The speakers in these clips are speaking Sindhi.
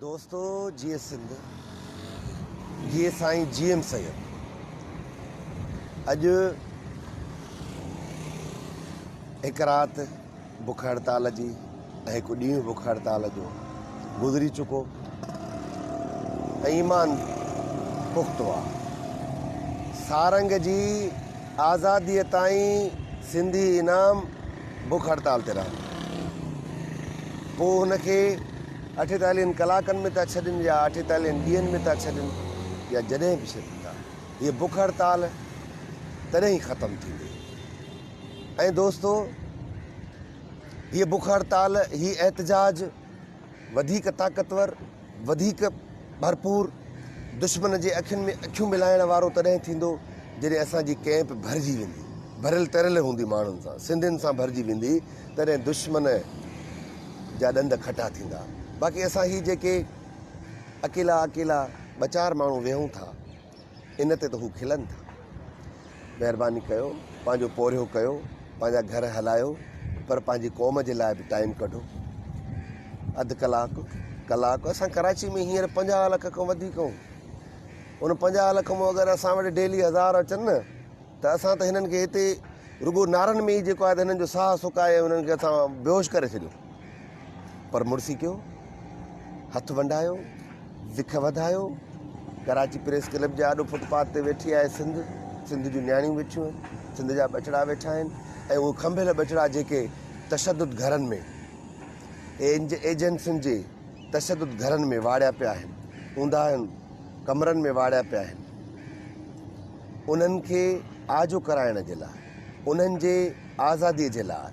دوستو جيئي سنڌ جيئي سائين جي ايم سيد اڄ هڪ رات بک هڙتال جي ۽ هڪ ڏينهن بک هڙتال جو گذري چڪو ايمان پختو آ سارنگ جي آزاديء تائين سنڌي انعام بک هڙتال تي رهن. پوء هن کي اٺيتاليهن ڪلاڪن ۾ ٿا ڇڏين يا اٺيتاليهن ڏينهن ۾ ٿا ڇڏين يا جڏهن به ڇڏين ٿا، هيء بک هڙتال تڏهن ئي ختم ٿيندي. ۽ دوستو! هيء بک هڙتال، هي احتجاج، وڌيڪ طاقتور، وڌيڪ ڀرپور، دشمن جي اکين ۾ اکيون ملائڻ وارو تڏهن ٿيندو جڏهن اسان جي ڪئمپ ڀرجي ويندي، ڀريل تريل هوندي ماڻهن سان، سنڌين سان ڀرجي ويندي تڏهن دشمن جا ڏند کٽا ٿيندا، باقي اسان هي جيڪي اڪيلا اڪيلا ٻه چار ماڻهو ويهون ٿا، ان تي ته هو کلن ٿا. مهرباني ڪيو پنهنجو پورهيو ڪيو پنهنجا گهر هلايو پر پنهنجي قوم جي لاء به ٽائيم ڪڍو. اڌ ڪلاڪ ڪلاڪ اسان ڪراچي ۾ هينئر پنجاهه لک کان وڌيڪ آهيون. ان پنجاهه لک مون اگر اسان وٽ ڊيلي هزار اچن نه ته اسان ته هنن کي هتي رڳو نعرن ۾ ئي جيڪو آهي ته هنن جو ساهه سڪائي ۽ هنن کي اسان بيهوش ڪري ڇڏيون. پر مڙسي ڪيو، هٿ ونڊايو، وک وڌايو، ڪراچي پريس ڪلب جي آڏو فٽ پاٿ تي ويٺي آهي سنڌ، سنڌ جون نياڻيون ويٺيون آهن، سنڌ جا ٻچڙا ويٺا آهن ۽ اهي کنڀيل ٻچڙا جيڪي تشدد گهرن ۾ ايجنسين جي تشدد گهرن ۾ واڙيا پيا آهن، اونداهين ڪمرن ۾ واڙيا پيا آهن. انهن کي آجو ڪرائڻ جي لاء انهن جي آزادي جي لاء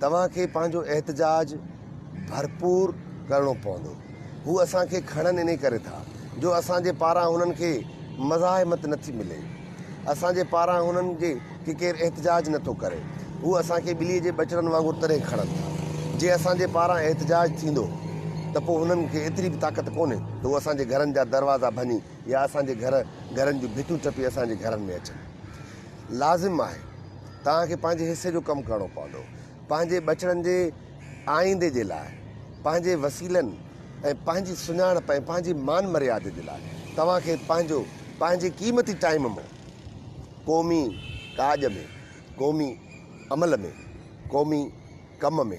توهان کي پنهنجو احتجاج ڀرپور ڪرڻو پوندو هو اسان کي کڻن انهي ڪري ٿا جو اسان جي پاران هنن کي مزاحمت نٿي ملي اسان جي پاران هنن جي کي ڪير احتجاج نٿو ڪري هو اسان کي ٻلي جي ٻچڙن وانگر تڏهن کڻن ٿا جي اسان جي پاران احتجاج ٿيندو ته پوء هنن کي ايتري به طاقت ڪونهي ته هو اسان جي گهرن جا دروازا ڀڃي يا اسان جي گهر گهرن جون ڀتيون ٽپي اسان جي گهرن ۾ اچن. لازم آهي توهان کي پنهنجي حصي جو ڪم ڪرڻو پوندو. پنهنجي ٻچڙن جي آئيندي جي لاء، پنهنجي وسيلن ۽ پنهنجي سڃاڻپ ۽ پنهنجي مان مريادي جي لاء توهان کي پنهنجو پنهنجي قيمتي ٽائيم مون قومي ڪاڄ ۾، قومي عمل ۾، قومي ڪم ۾،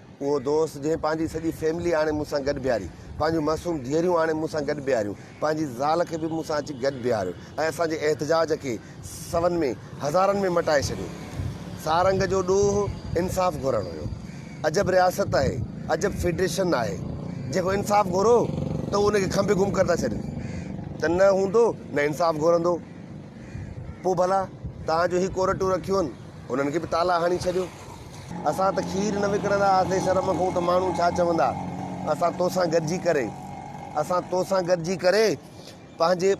اهو دوست جنهن پنهنجي سڄي فيملي آڻي مون سان گڏ بيهاري، پنهنجون معصوم ڌيئريون آڻي مون سان گڏ بيهاريون، پنهنجي زال کي به مون سان اچي گڏ بيهاريو ۽ اسان جي احتجاج کي سون ۾ هزارن ۾ مٽائي ڇڏيو. سارنگ جو ڏوهه انصاف گهرڻ هيو. عجب رياست آهي، عجب فيڊريشن آهي، جيڪو انصاف گهرو ته هو ان کي کنڀي گم ڪري ٿا ڇڏين ته نه هوندو نه انصاف گهرندو. پوء ڀلا توهان جو هي ڪورٽون رکيون هن، انهن کي به تالا هڻي ڇڏيو. اسان ته کير نه وڪڻندا هئاسين شرم کان ته ماڻهو ڇا چوندا اسان توسان گڏجي ڪري اسان توسان گڏجي ڪري پنهنجي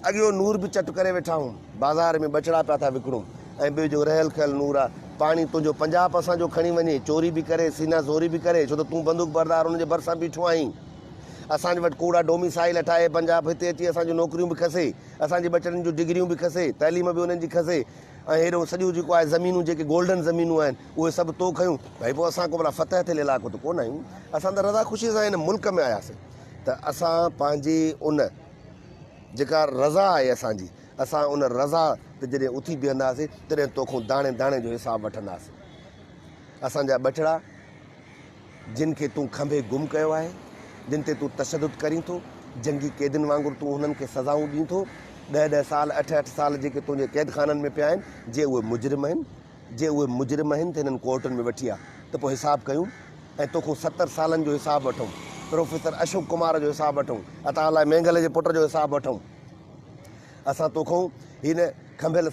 اڳيو نور به چٽ ڪري ويٺا آهيون بازار ۾ ٻچڙا پيا ٿا وڪڻون ۽ ٻيو جو رهيل کهيل نور آ پاڻي تنهنجو پنجاب اسان جو کڻي وڃي چوري به ڪري سينا زوري به ڪري ڇو ته تون بندوق بردار ان جي ڀرسان بيٺو آهين اسان وٽ ڪوڙا ڊوميسائل اٺائي پنجاب هتي اچي اسان جون نوڪريون به کسي اسان جي ٻچڙن جون ڊگريون به کسي تعليم به انهن جي کسي ۽ هيڏو سڄو جيڪو آهي زمينون جيڪي گولڊن زمينون آهن اهي سڀ تو کنيون ڀئي پوء اسان ڪو ڀلا فتح ٿيل علائقو ته ڪونه آهيون اسان ته رضا خوشي سان هن ملڪ ۾ آياسين ته اسان پنهنجي ان جيڪا رضا آهي اسان جي اسان ان رضا تي جڏهن اٿي بيهنداسين تڏهن توکون داڻي داڻي جو حساب وٺنداسين اسان جا ٻچڙا جن کي تون کنڀي گم ڪيو آهي، جن تي تون تشدد ڪرين ٿو، جنگي قيدين وانگر تون انهن کي سزائون ڏين ٿو، ڏهه ڏهه سال، اٺ اٺ سال جيڪي تنهنجي قيدخانن ۾ پيا آهن، جي اهي مجرم آهن، جي اهي مجرم آهن ته هنن ڪورٽن ۾ وٺي آ ته پوء حساب ڪيون ۽ توکون ستر سالن جو حساب وٺون، پروفيسر اشوڪ ڪمار جو حساب وٺون، عطاء الله مينگل جي پٽ جو حساب وٺون، اسان توکون هن کنڀيل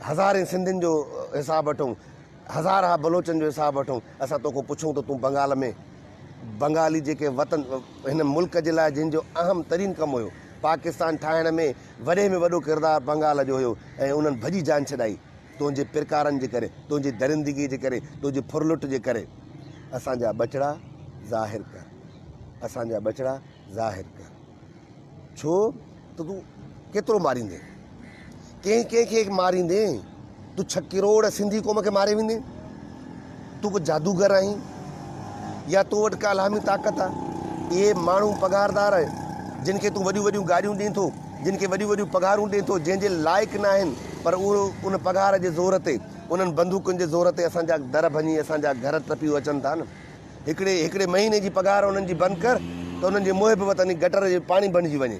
هزارين سنڌين جو حساب وٺون. هزارها بلوچن جو حساب وٺون، اسان توکان پڇون ته تون بنگال ۾ بنگالي جيڪي وطن هن ملڪ جي لاء جن جو اهم ترين ڪم هيو، پاڪستان ٺاهڻ ۾ وڏي ۾ وڏو ڪردار بنگال جو هيو ۽ انهن ڀڄي جان ڇڏائي تنهنجي پرڪارن جي ڪري، تنهنجي درندگي جي ڪري، تنهنجي ڦرلٽ جي ڪري. اسان جا ٻچڙا ظاهر ڪر، اسان جا ٻچڙا ظاهر ڪر. ڇو ته تون ڪيترو ماريندين، ڪنهن ڪنهن کي ماريندين، تون ڇهه ڪروڙ سنڌي قوم کي ماري ويندين، تون ڪو جادوگر آهين يا تو وٽ ڪا الهامي طاقت آ، اهي ماڻهو پگهاردار جن کي تون وڏيون وڏيون گاڏيون ڏين ٿو، جن کي وڏيون وڏيون پگهارون ڏين ٿو، جنهن جي لائق ناهن پر اهي ان پگهار جي زور تي، انهن بندوقن جي زور تي اسان جا در ڀڃي اسان جا گهر ٽپي اچن ٿا نه. هڪڙي هڪڙي مهيني جي پگهار انهن جي بند ڪر ته انهن جي محب وطن ئي گٽر جي پاڻي بڻجي وڃي.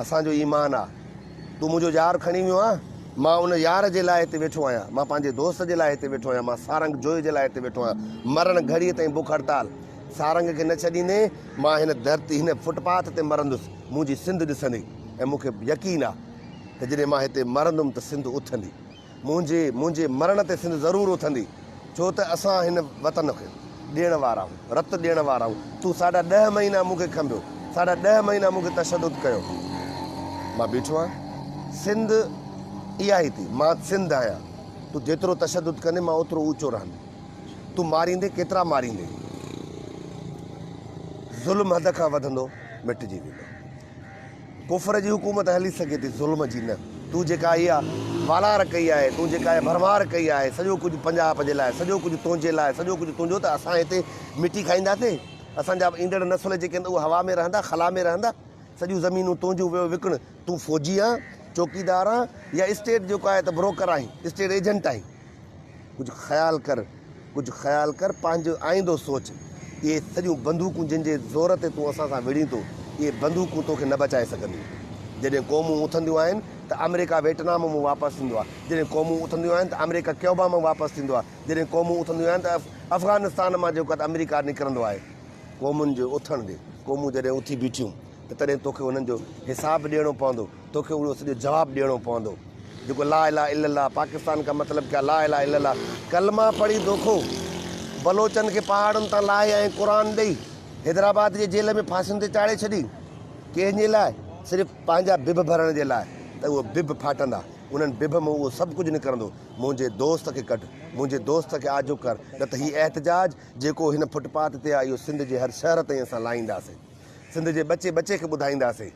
اسان جو ايمان آ. تون منهنجو يار کڻي ويو آن مان ان يار جي لاء هتي ويٺو آهيان. مان پنهنجي دوست جي لاء هتي ويٺو آهيان. مان سارنگ جويي جي لاء هتي ويٺو آهيان. مرڻ گهڙيء تائين بک هڙتال سارنگ کي نه ڇڏيندي. مان هن ڌرتي، هن فٽ پاٿ تي مرندس. منهنجي سنڌ ڏسندي ۽ مون کي يقين آ ته جڏهن مان هتي مرندم ته سنڌ اٿندي. منهنجي منهنجي مرڻ تي سنڌ ضرور اٿندي ڇو ته اسان هن وطن کي ڏيڻ وارا آهيون رت ڏيڻ وارا آهيون تون ساڍا ڏهه مهينا مون کي کنڀيو ساڍا ڏهه مهينا مون کي تشدد ڪيو مان بيٺو آهيان سنڌ اها ئي ٿي مان سنڌ آهيان تون جيترو تشدد ڪندي مان اوترو اوچو رهندي تون ماريندي ڪيترا ماريندي ظلم حد کان وڌندو مٽجي ويندو ڪفر جي حڪومت هلي سگهي ٿي ظلم جي نه. تون جيڪا اها والار ڪئي آهي، تون جيڪا اها ڀرمار ڪئي آهي، سڄو ڪجهه پنجاب جي لاء، سڄو ڪجهه تنهنجي لاء، سڄو ڪجهه تنهنجو ته اسان هتي مٽي کائينداسين، اسان جا ايندڙ نسل جيڪي هوندا اهي هوا ۾ رهندا، خلا ۾ رهندا، سڄيون زمينون تنهنجون ويو وڪڻ، تون فوجي آهين، چوڪيدار آهين يا اسٽيٽ جيڪو آهي ته بروڪر آهين، اسٽيٽ ايجنٽ آهين. ڪجهه خيال ڪر، ڪجهه خيال ڪر، پنهنجو آئيندو سوچ. اهي سڄيون بندوقون جن جي زور تي تون اسان سان وڙهين ٿو، اهي بندوقون توکي نه بچائي سگهنديون. جڏهن قومون اٿنديون آهن ته آمريڪا ويٽنام مان واپس ٿيندو آهي، جڏهن قومون اٿنديون آهن ته آمريڪا ڪيوبا مان واپس ٿيندو آهي، جڏهن قومون اٿنديون آهن ته افغانستان مان جيڪو ته آمريڪا نڪرندو آهي. قومن جي اٿڻ تي قومون جڏهن اٿي بيٺيون ته تڏهن توکي انهن جو حساب ڏيڻو پوندو. توکي اهڙو سڄو جواب ڏيڻو پوندو جيڪو لا اله الا الله پاڪستان ڪا مطلب ڪيا لا اله الا الله ڪلما پڙهي دوکو بلوچن کي پهاڙن تان لاهي ۽ قرآن ڏئي حيدرآباد جي جيل ۾ ڦاسين تي چاڙهي ڇڏي ڪنهن جي لاء صرف پنهنجا بڀ ڀرڻ جي لاء ته اهو بڀ ڦاٽندا انهن بڀ مون اهو سڀ ڪجهه نڪرندو منهنجي دوست کي ڪڍ منهنجي دوست کي آجو ڪر نه ته هي احتجاج جيڪو هن فٽپاٿ تي آهي اهو سنڌ جي هر شهر تائين اسان لائينداسين سنڌ جي ٻچي ٻچي کي ٻڌائينداسين